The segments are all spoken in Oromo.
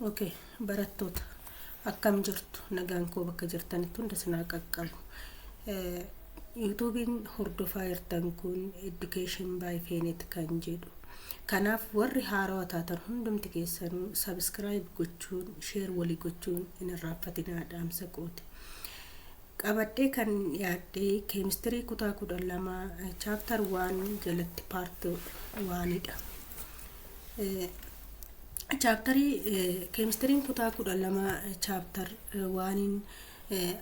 ok barattoota akkam jirtu nagaan koo bakka jirtanitti hunda sinaa qaqqabu yuutuubiin hordofaa jirtan kun education by feenet kan jedhu kanaaf warri haarawa taatan hundumti keessanuu sabiskiraayib gochuun sheer walii gochuun hin irraanfatinaa dhaamsa kooti qabadhee kan yaaddee keemistirii kutaa kudha lama chaaptar waan jalatti paarti waanidha Chaaptarii keemistiriin kutaa kudha lama chaaptar waaniin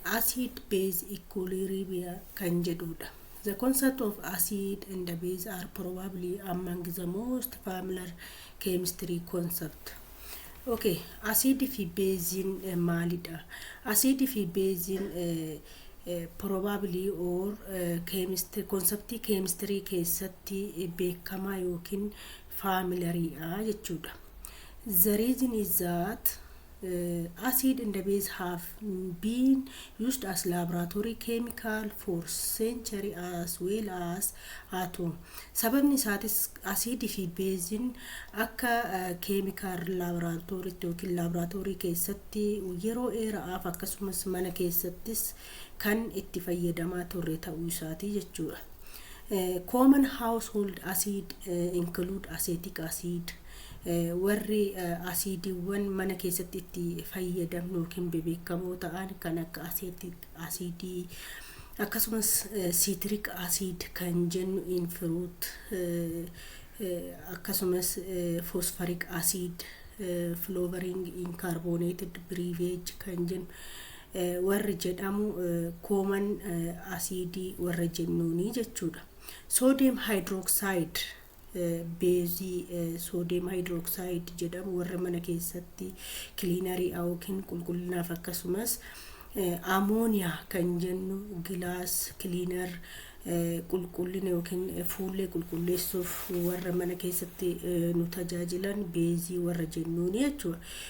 acid base equilibrium kan jedhudha. The concept of acid and the base are probably among the most familiar chemistry concept. Okay, asiidii fi beeziin eh, maalidha? Asiidii fi beeziin eh, eh, probably or eh, chemistry, konseptii keemistirii keessatti eh, beekamaa yookiin faamilariidha jechuudha. The reason is that uh, acid and the base have been used as laboratory chemical for century as well as atom. Sababni isaatis asiidii fi beeziin akka keemikaal laaboraatooriitti yookiin laaboraatoorii keessatti yeroo dheeraaf akkasumas mana keessattis kan itti fayyadamaa turre ta'uu isaatii jechuudha. Common household acid include acetic acid warri asiidiiwwan mana keessatti itti fayyadamnu yookiin bebeekamoo ta'an kan akka asiidii akkasumas citric acid kan jennu in fruit akkasumas phosphoric acid flavoring in carbonated beverage kan jennu warri jedhamu kooman asiidii warra jennuuni jechuudha. Soodiyem haayidrooksaayid beezii soodiyem haayidrooksaayid jedhamu warra mana keessatti kiliinarii yookiin qulqullinaaf akkasumas amooniyaa kan jennu gilaas kiliinar qulqullina yookiin fuullee qulqulleessuuf warra mana keessatti nu tajaajilan beezii warra jennuuni jechuudha.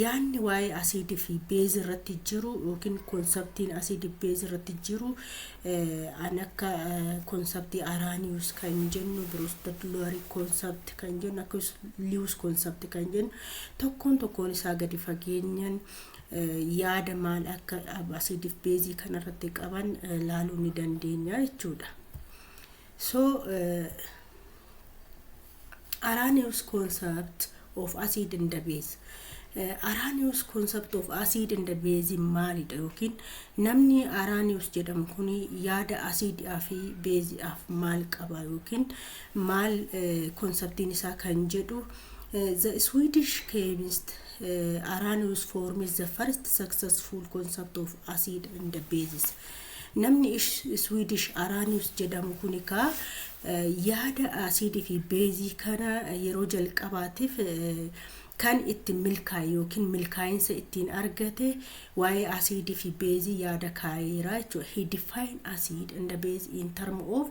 Yaadni waa'ee asiidii fi beezi irratti jiru yookiin konseptiin asiidii beezi irratti jiru an akka konseptii Araaniyus kan jennu Birostadloorii konsept kan jennu akkasumas Liyus konsept kan jennu tokkoon tokkoon isaa gadi fageenyan yaada maal akka asiidii fi beezii kanarratti qaban laaluu ni dandeenya jechuudha. So, Arrhenius concept of acid and the base. Arrhenius concept of acid and the base maalidha yookiin namni Arrhenius jedhamu kun yaada asiidhaa fi beeziidhaaf maal qaba yookiin maal konseptiin isaa kan jedhu the Swedish chemist Arrhenius forms the first successful concept of acid and the bases. Namni Iswiidish Aranius jedhamu kuni kaa yaada asiidii fi beezii kana yeroo jalqabaatiif kan ittiin milkaa'e yookiin milkaa'insa ittiin argate waa'ee asiidii fi beezii yaada kaa'eera jechuudha. He defined acid and the base in term of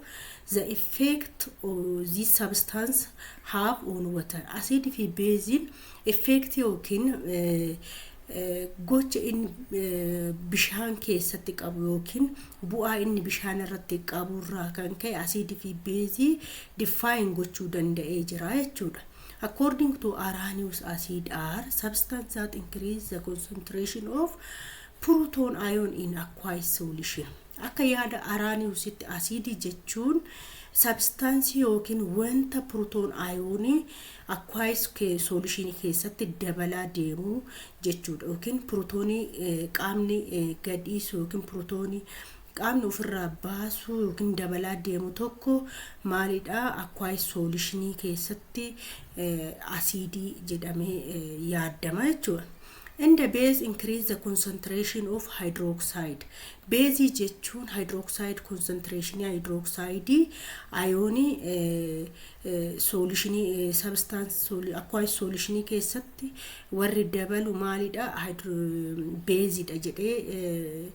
the effect these substances have on water. Asiidii fi beeziin effect yookiin gocha inni bishaan keessatti qabu yookiin bu'aa inni bishaan irratti qabu irraa kan ka'e asiidii fi beezii define gochuu danda'ee jira jechuudha. According to Arrhenius acid are substance that increase the concentration of proton ion in aqueous solution. Akka yaada Arrheniusitti asiidii jechuun sabstaansii yookiin wanta proton ion Aqueous solution keessatti dabalaa deemu jechuudha yookiin protoonii qaamni gadhiisu yookiin protoonii qaamni ofirraa baasuu yookiin dabalaa deemu tokko maalidha aqueous solution keessatti asiidii jedhamee yaadama jechuudha. And the base increase the concentration of hydroxide. Base jechuun hydroxide concentration hydroxide ayoonii soolishinii sabstaans akkuwaayis soolishinii keessatti warri dabalu maalidha beezidha jedhee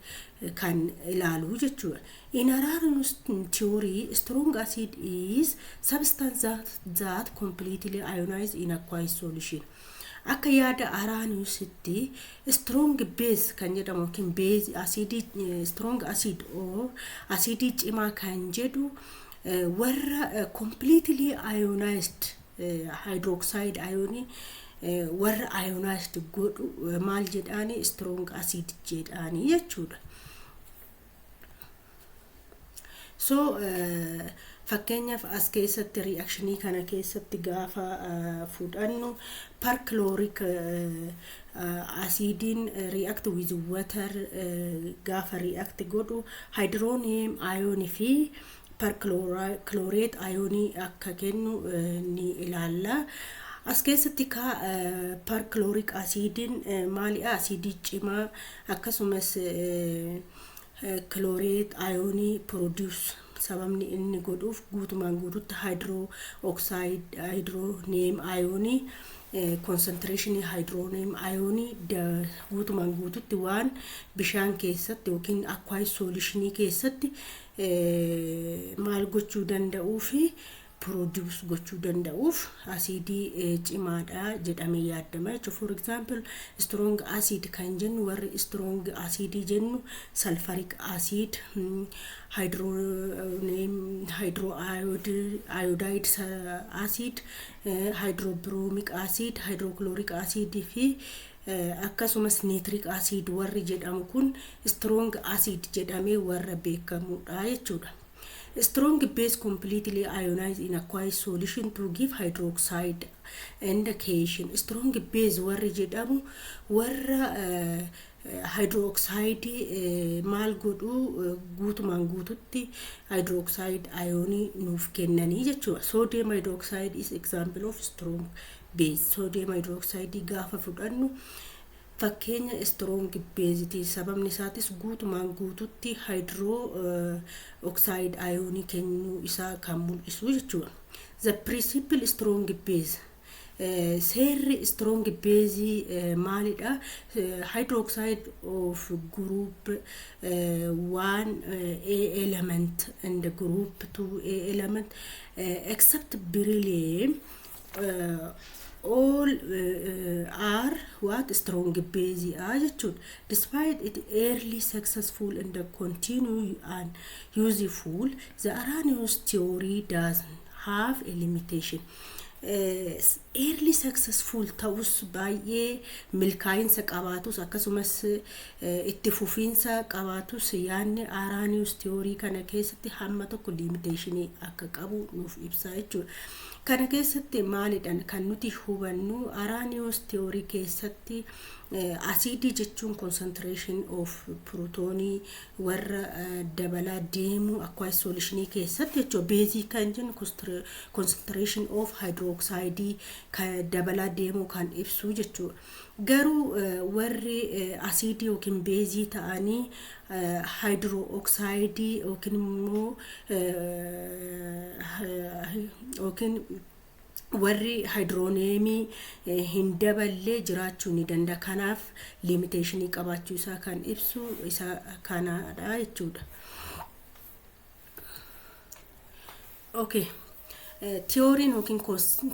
kan ilaalu jechuudha. In Arrhenius theory, strong acid is substance that, that completely ionize in aqueous solution. Akka yaada Arrheniusitti strong base kan jedhamu yookiin base acidii strong acid or acidii cimaa kan jedhu warra completely ionized hydroxide ayonii warra ionized godhu maal jedhaani strong acid jedhaani jechuudha. So fakkeenyaaf as keessatti reactionii kana keessatti gaafa fudhannu perchloric asiidiin react with water gaafa react godhu hydronium ion fi perchlorate ionii akka kennu ni ilaalla. As keessatti ka perchloric asiidiin maaliidha? Asiidii cimaa akkasumas chlorate ionii produce Sababni inni godhuuf guutumaan guututti haayidiroo oksaayid haayidirooneem ayoonii konsantireeshinii haayidirooneem ayoonii guutumaan guututti waan bishaan keessatti yookiin akwaayis soolishinii keessatti maal gochuu danda'uu fi produce gochuu danda'uuf asiidii cimaadha jedhamee yaadama jechuudha. For example, strong acid kan jennu warri strong acid jennu sulfuric acid, hydro, hydro iodide acid, hydrobromic acid, hydrochloric acid fi akkasumas nitric acid warri jedhamu kun strong acid jedhamee warra beekamudha jechuudha. Strong base completely ionize in aqueous solution to give hydroxide and cation. Strong base warri jedhamu warra hydroxide maal godhu guutumaan guututti hydroxide ayonii nuuf kennanii jechuudha. Sodium hydroxide is example of strong base. Sodium hydroxide gaafa fudhannu Fakkeenya strong base ti. Sababni isaatis guutumaan guututti hydro oxide ayoonii kennuu isaa kan mul'isu jechuudha. The principle strong base seerri strong base maalidha? Hydroxide of group 1A element and group 2A element except beryllium all uh, are what strong base are jechuun despite it early successful and continue and useful the Arrhenius theory does have a limitation uh, early successful ta'us baay'ee milkaa'insa qabaatus akkasumas uh, itti fufiinsa qabaatus yaanni Arrhenius theory kana keessatti hamma tokko limitation akka qabu nuuf ibsaa jechuudha Kana keessatti maalidhan kan nuti hubannu Arrhenius theory keessatti asiidii jechuun concentration of pirutoonii warra dabalaa deemuu aqueous solution keessatti jechuudha. Beezii kan jennu concentration of hydroxide kan dabalaa deemuu kan ibsu jechuudha. Garuu warri asiidii yookiin beezii ta'anii haayidiroo oksaayidii yookiin immoo yookiin warri haayidirooneemii hin daballe jiraachuu ni danda'a. Kanaaf liimiteeshinii qabaachuu isaa kan ibsu isa kanaadha jechuudha. Okay. Tiyooriin yookiin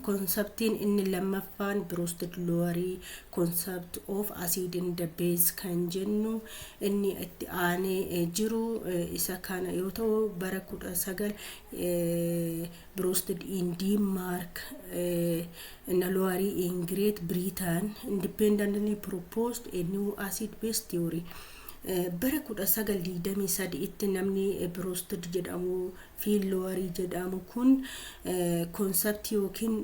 konseptiin inni lammaffaan Biruustid Loowarii konsept of asiid in the base kan jennu inni itti aanee jiru isa kana yoo ta'u bara kudha sagal Biruustid in Diinmaark na Loowarii in Great Britain independently proposed a new acid base theory Bara 1923tti namni Brustd jedhamu fi Lowery jedhamu kun konseptii ykn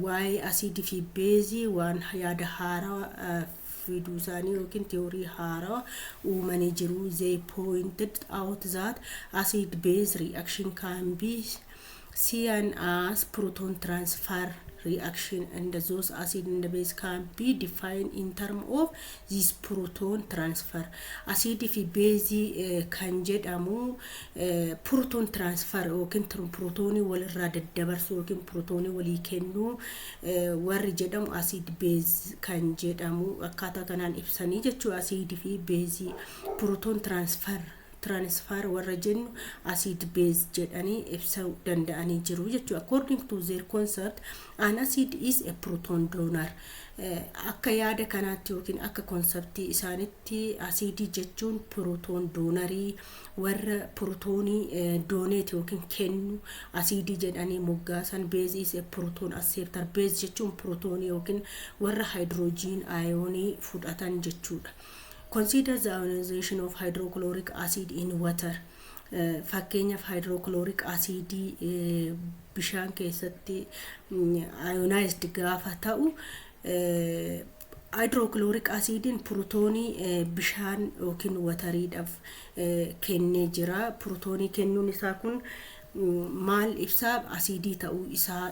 waa'ee asiidii fi beezii waan yaada haarawa fiduu isaanii ykn tiyoorii haarawa uumanii jiru. They pointed out that acid-base reaction can be CNAs proton transfer reaction and those acid and base can be defined in term of this proton transfer. Asiidii fi beezii eh, kan jedhamu eh, proton transfer yookiin tr- protonii walirraa daddabarsuu yookiin protonii walii kennuu eh, warri jedhamu asiid beez kan jedhamu akkaataa kanaan ibsanii jechuu asiidii fi beezii proton transfer transfer warra jennu acid base jedhanii ibsuu danda'anii jiru jechuudha. According to their concept, an acid is a proton donor. Akka yaada kanaatti yookiin akka konseptii isaanitti asiidii jechuun pirootoon doonarii warra pirootoonii dooneet yookiin kennu asiidii jedhanii moggaasan beezii is a proton acceptor beez jechuun pirootoonii yookiin warra haayidiroojiin aayoonii fudhatan jechuudha. Consider the ionization of hydrochloric acid in water. Fakkeenyaaf hydrochloric acid bishaan keessatti ionized gaafa ta'u hydrochloric acidiin purutoonii bishaan yookiin watariidhaaf kennee jira. Purutoonii kennuun isaa kun maal ibsaa asiidii ta'uu isaa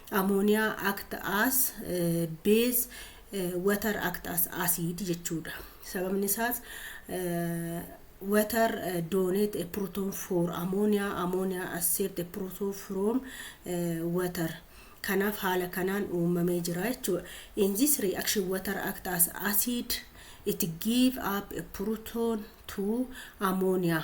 Ammonia act as base, water act as acid jechuudha. Sababni isaas water donate a proton for ammonia, ammonia accept a proton from water. Kanaaf haala kanaan uumamee jira jechuudha. In this reaction water act as acid it give up a proton to ammonia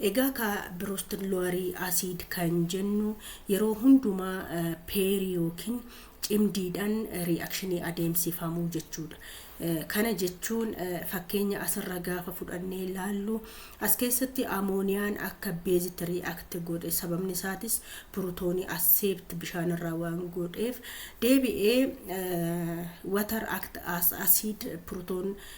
Egaa kaa Brust Lower Acid kan jennu yeroo hundumaa pair yookiin cimdiidhaan reaction adeemsifamu jechuudha. Kana jechuun fakkeenya asirra gaafa fudhannee ilaallu as keessatti amooniyaan akka beezitti react godhe sababni isaatis purutoonii accept bishaanirraa waan godheef deebi'ee water act as acid purutoon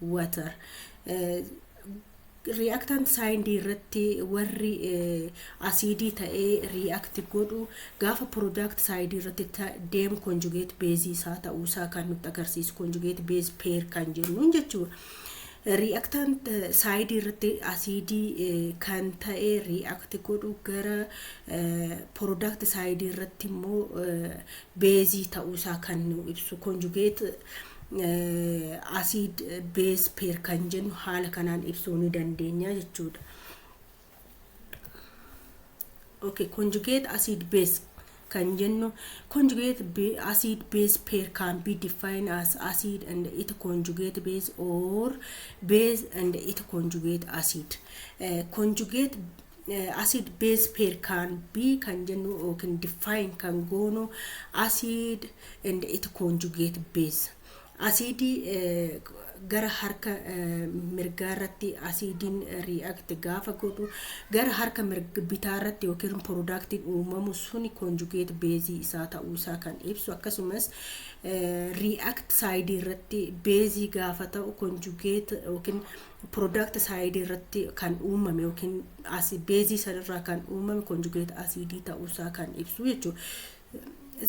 water riyaaktant saayindii irratti warri asiidii ta'ee riyaakti godhu gaafa piroodaakti saayidii irratti deem konjugeet beezii isaa ta'uu isaa kan nutti agarsiisu konjugeet beez peer kan jennuun jechuudha. Riyaaktant saayidii irratti asiidii kan ta'e riyaakti godhu gara piroodaakti saayidii irratti immoo beezii ta'uu isaa kan nu ibsu konjugeet asiid bees peer kan jennu haala kanaan ibsuu ni dandeenya jechuudha. Okay, conjugate acid base kan jennu conjugate be- acid base pair can be defined as acid and its conjugate base or base and its conjugate acid. Eh, conjugate acid base pair can be kan jennu yookiin define kan goonu acid and it conjugate base asiidii gara harka mirgaa irratti asiidiin react gaafa godhu gara harka bitaa irratti yookiin piroodaaktiin uumamu suni conjugate base isaa ta'uu isaa kan ibsu akkasumas react side irratti base gaafa ta'u conjugate yookiin product side irratti kan uumame yookiin asi beezii sanirraa kan uumame conjugate asiidii ta'uusaa kan ibsu jechuudha.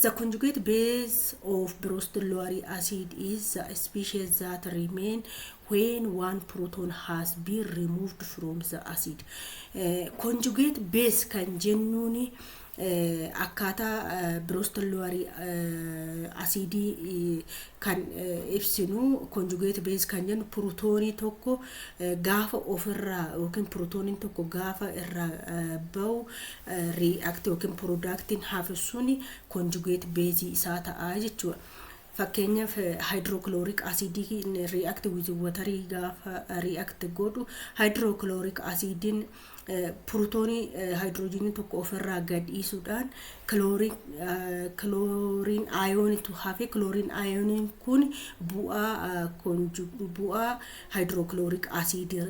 The conjugate base of brostolary acid is the species that remain when one proton has been removed from the acid. Eh, conjugate base kan jennuuni akkaataa Broston Lowry asiidii kan ibsinu conjugate base kan jennu purutoonii tokko gaafa ofirraa yookiin purutooniin tokko gaafa irraa ba'u react yookiin product hafisuun conjugate base isaa ta'a jechuudha. Fakkeenyaaf hydrochloric acid react with water gaafa react godhu hydrochloric acidiin purutoonii haayidiroojiinii tokko ofirraa gadhiisuudhaan kilooriin ayoonitu hafe kilooriin ayooniin kun bu'aa bu'aa haayidirookilooriik asiidii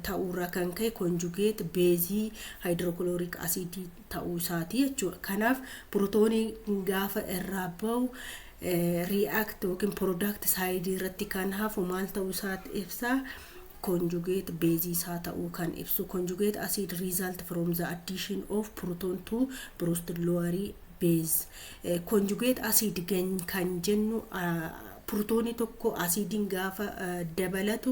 ta'uurraa kan ka'e konjugeet beezii haayidirookilooriik asiidii ta'uu isaati jechuudha. Kanaaf pirootooniin gaafa irraa ba'u react yookiin product side irratti kan hafu maal ta'uu isaa ibsa conjugate base isaa ta'uu kan ibsu conjugate acid result from the addition of proton to brusted lower base conjugate acid kan jennu pirootoonii tokko asiidiin gaafa dabalatu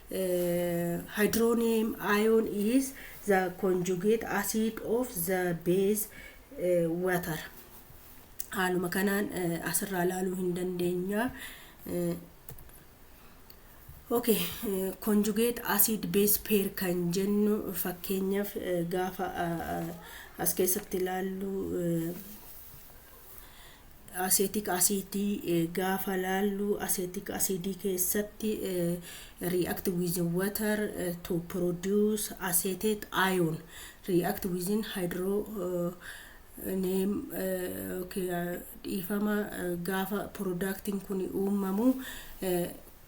Hydronium ion is the conjugate acid of the base water. Haaluma kanaan asirraa ilaaluu hin dandeenya. Okay, conjugate acid base pair kan jennu fakkeenyaaf gaafa as keessatti ilaallu Aseetik asiidii gaafa laallu aseetik asiidii keessatti react with water to produce acetate ion react within hydro neem dhiifama gaafa productiin kun uumamu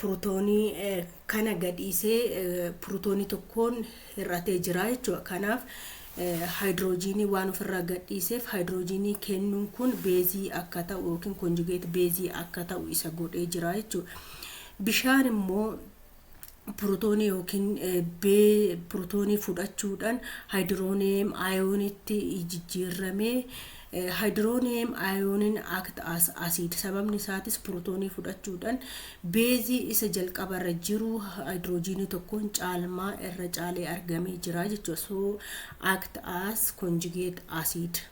purutoonii kana gadhiisee purutoonii tokkoon hir'atee jira jechuudha. Kanaaf haayidiroojiinii waan ofirraa gadhiiseef haayidiroojiinii kennuun kun beezii akka ta'u yookiin konjugeet beezii akka ta'u isa godhee jira jechuudha. Bishaan immoo pirotoonii yookiin B pirotoonii fudhachuudhaan haayidirooniyeem ayoonitti jijjiirrame. Haayidirooniyeem ayooniin act as asiid sababni isaatis pirotoonii fudhachuudhaan beezii isa jalqabarra jiru haayidiroojiinii tokkoon caalmaa irra caalee argamee jira jechuudha. So act as conjugate acid.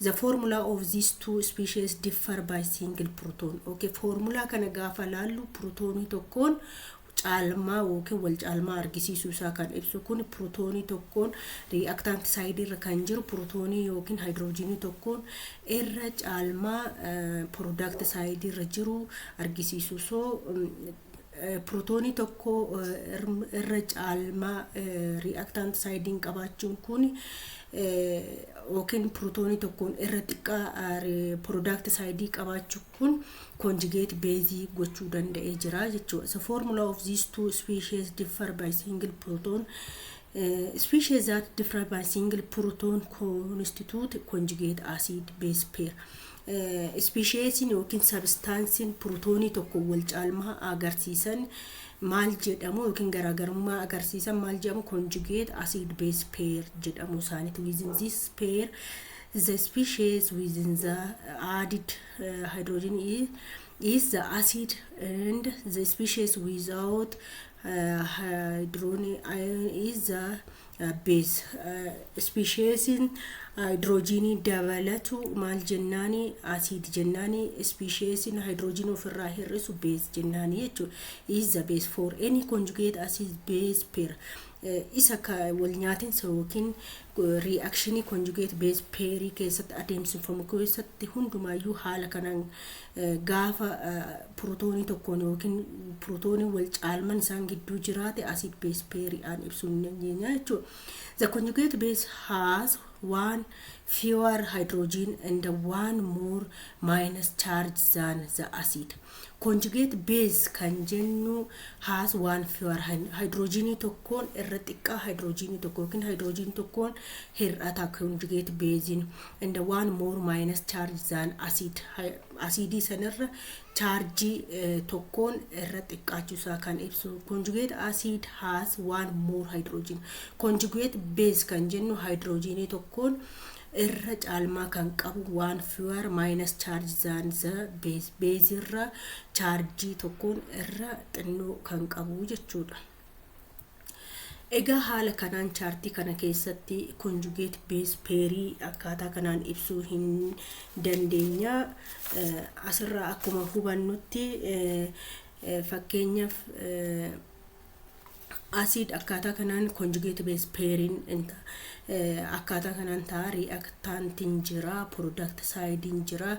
The formula of these two species differ by single proton. Okay, foormulaa kana gaafa laallu protoonii tokkoon caalmaa yookiin wal caalmaa argisiisuu isaa kan ibsu kun protoonii tokkoon reactant side irra kan jiru protoonii yookiin haayidiroojiinii tokkoon irra caalmaa product side irra jiru argisiisu so Pirootoonii tokko irra caalmaa ri'aktaant saayidiin qabaachuun kun yookiin pirootoonii tokkoon irra xiqqaa piroodaakti saayidii qabaachuu kun konjigeet beezii gochuu danda'ee jira jechuudha. So formula of these two species differ by single proton. Uh, species that differ by single proton constitute conjugate acid base pair. Ispisheesiin ykn sabistaansiin purutoonii tokko walcaalmaa agarsiisan maal jedhamu ykn garaagarummaa agarsiisan maal jedhamu conjugate acid base pair jedhamu isaaniiti within this pair the species within the added uh, hydrogen is, is the acid and the species without Haayidiroonii is the bees. Ispisheesiin haayidiroojiinii dabalatu maal jennaani asiid jennaani ispisheesiin haayidiroojiinii ofirraa hir'isu bees jennaani jechuudha. Is the base for any conjugate acid base pair. Isa ka wal nyaatinsa yookiin riiyakshinii conjugate base pair keessatti adeemsifamu keessatti hundumaayyuu haala kanaan Gaafa pirotoonii tokkoon yookiin pirotooniin wal caalman isaan gidduu jiraate acid base pair aan ibsuu ni dandeenya jechuudha. The conjugate base has one fewer hydrogen and one more minus charge than the acid. Conjugate base kan jennu has one fewer hy- hydrogenii tokkoon irra xiqqaa hydrogenii tokko yookiin hydrogenii tokkoon hir'ata conjugate base'n. and one more minus charge than acid asiidii sanirra chaarjii tokkoon irra xiqqaachuu isaa kan ibsu conjugate acid has one more hydrogen conjugate base kan jennu hydrogenii tokkoon irra caalmaa kan qabu waan fewer minus charge than the base base irra chaarjii tokkoon irra xinnoo kan qabu jechuudha. Egaa haala kanaan chaartii kana keessatti conjugate base pairii akkaataa kanaan ibsuu hin dandeenya. Eh, Asirraa akkuma hubannutti eh, eh, fakkeenyaaf eh, asiid akkaataa kanaan conjugate base pairing in ta- eh, akkaataa kanaan ta'a reactantiin jira product sidein jira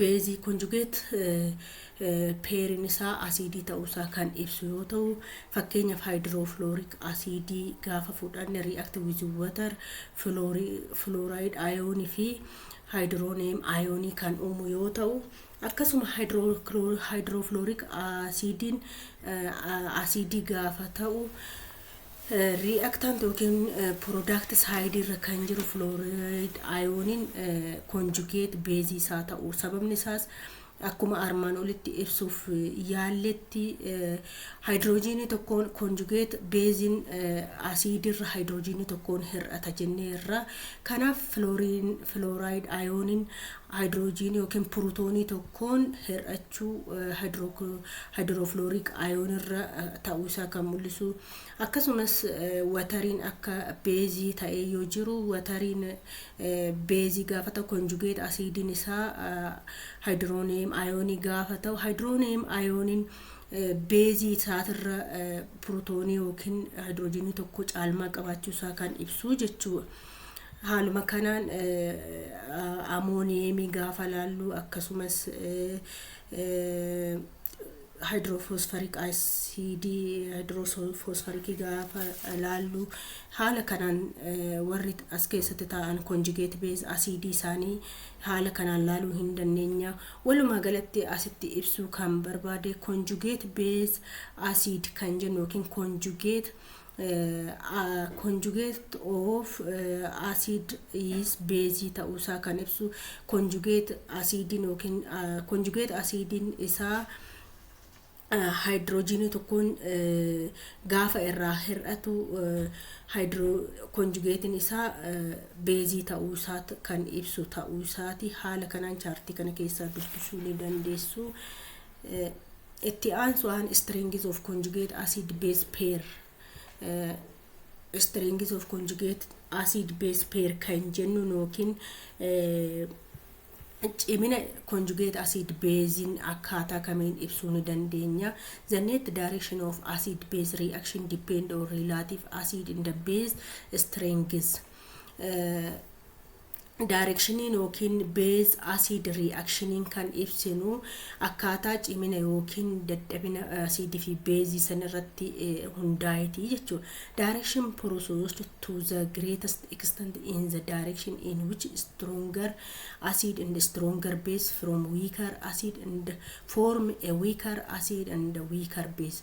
beezii konjugeet peeriin isaa asiidii ta'uusaa kan ibsu yoo ta'u fakkeenyaaf haayidiroofilooriik asiidii gaafa fudhanne ri'aakti wiz watar filooraayid ayoonii fi haayidirooneem ayoonii kan uumu yoo ta'u akkasuma haayidiroofilooriik asiidiin asiidii gaafa ta'u Rii'aktaanti yookiin piroodaakti saayidii irra kan jiru filooraayid ayooniin konjugeet beezii isaa ta'u. Sababni isaas akkuma armaan olitti ibsuuf yaalletti haayidiroojiinii tokkoon konjugeet beeziin asiidiirra haayidiroojiinii tokkoon hir'ata jennee irra. Kanaaf filooraayid ayooniin Haayidiroojiinii ykn purutoonii tokkoon hir'achuu haayidirookilooriik ayoon irra ta'uu isaa kan mul'isu. Akkasumas watariin akka beezii ta'ee yoo jiru watariin beezii gaafa ta'u konjugeet asiidiin isaa haayidirooneem ayoonii gaafa ta'u haayidirooneem ayooniin beezii isaatirra purutoonii ykn haayidiroojiinii tokkoo caalmaa qabaachuu isaa kan ibsu jechuudha. Haaluma kanaan amooniyeemii gaafa laallu akkasumas haayidiroofoosfarik asiidii haayidiroofoosfarikii gaafa laallu haala kanaan warri as keessatti taa'an konjigeet beez asiidii isaanii haala kanaan laaluu hin dandeenya. Walumaa galatti asitti ibsuu kan barbaade konjugeet beez asiid kan jennu yookiin konjugeet Conjugate of acid is beezii ta'uusaa kan ibsu conjugate asiidiin yookiin conjugate asiidiin isaa haayidiroojiinii tokkoon gaafa irraa hir'atu konjugeetiin isaa beezii ta'uu isaa kan ibsu ta'uu isaati haala kanaan chaartii kana keessaa dubbisuu ni dandeessu. itti aansuudhaan strings of conjugate acid base pair strings of conjugate acid base pair kan jennu yookiin cimina conjugate acid basein akkaataa kamiin ibsuu ni dandeenya the net direction of acid base reaction depend on relative acid in the base strings daayirekshiniin yookiin beez asiid rii'akshiniin kan ibsinu akkaataa cimina yookiin dadhabina asiidii fi beezii san irratti hundaa'eeti jechuudha. Direction processed to the greatest extent in the direction in which stronger acid and stronger base from weaker acid and form a weaker acid and weaker base.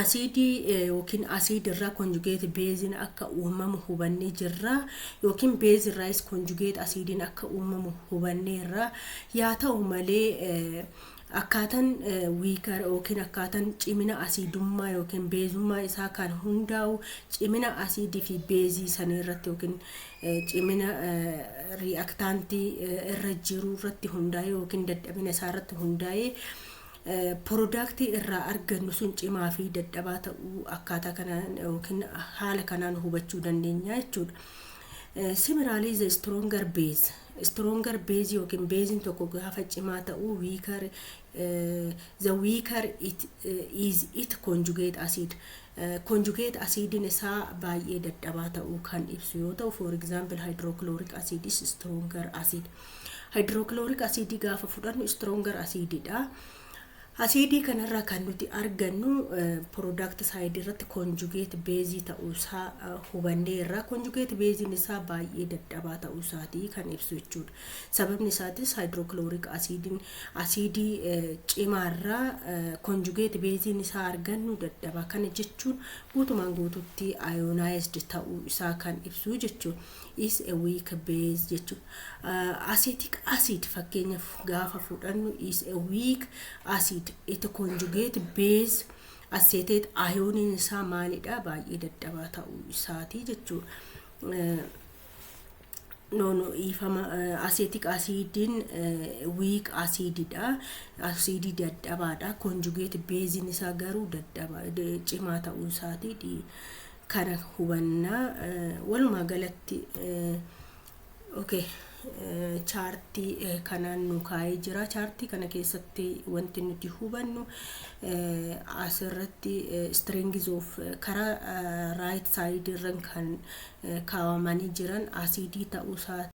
asiidii yookiin asiid irraa konjugeeti beeziin akka uumamu hubannee jirra yookiin beezi irraayis konjugeet asiidiin akka uumamu hubannee irra yaa ta'u malee akkaatan wiikar yookiin akkaatan cimina asiidummaa yookiin beezummaa isaa kan hundaa'u cimina asiidii fi beezii sanii irratti yookiin cimina ri'aktaantii irra jiru irratti hundaa'e yookiin dadhabina isaa irratti hundaa'e Porodaaktii irraa argannu sun cimaa fi dadhabaa ta'uu akkaataa kanaan yookiin haala kanaan hubachuu dandeenya jechuudha. Similarly, the stronger base. Stronger base yookiin beeziin tokko gaafa cimaa ta'u weaker eh, the weaker it eh, is it conjugate acid. Eh, Conjugate acidiin isaa baay'ee dadhabaa ta'uu kan ibsu yoo ta'u, for example hydrochloric acid is stronger acid. Haayidirookilooriik asiidii gaafa fudhannu istroongar asiidiidha. Asiidii kanarraa kan nuti argannu piroodaakti saayidii irratti konjugeet beezii ta'uusaa hubannee irraa konjugeet beeziin isaa baay'ee dadhabaa ta'uusaatii kan ibsu jechuudha. Sababni isaatis haayidirookilooriik asiidiin asiidii cimaarraa konjugeet beeziin isaa argannu dadhabaa kana jechuun guutumaan guututti ayoonaayizd ta'uu isaa kan ibsu jechuudha. is a weak base jechuun acetic acid fakkeenyaaf gaafa fudhannu is a weak acid it conjugate base acetate ayooniin isaa maalidha baay'ee dadhabaa ta'uu isaati jechuu noonu dhiifama acetic acidiin weak acididha acidii dadhabaadha conjugate beeziin isaa garuu dadhaba cimaa ta'uu isaati kana hubanna. Walumaa galatti okay, chaartii kanaan nu kaa'ee jira. Chaartii kana keessatti wanti nuti hubannu asirratti strings of karaa right side irran kan kaawamanii jiran asiidii ta'uusaa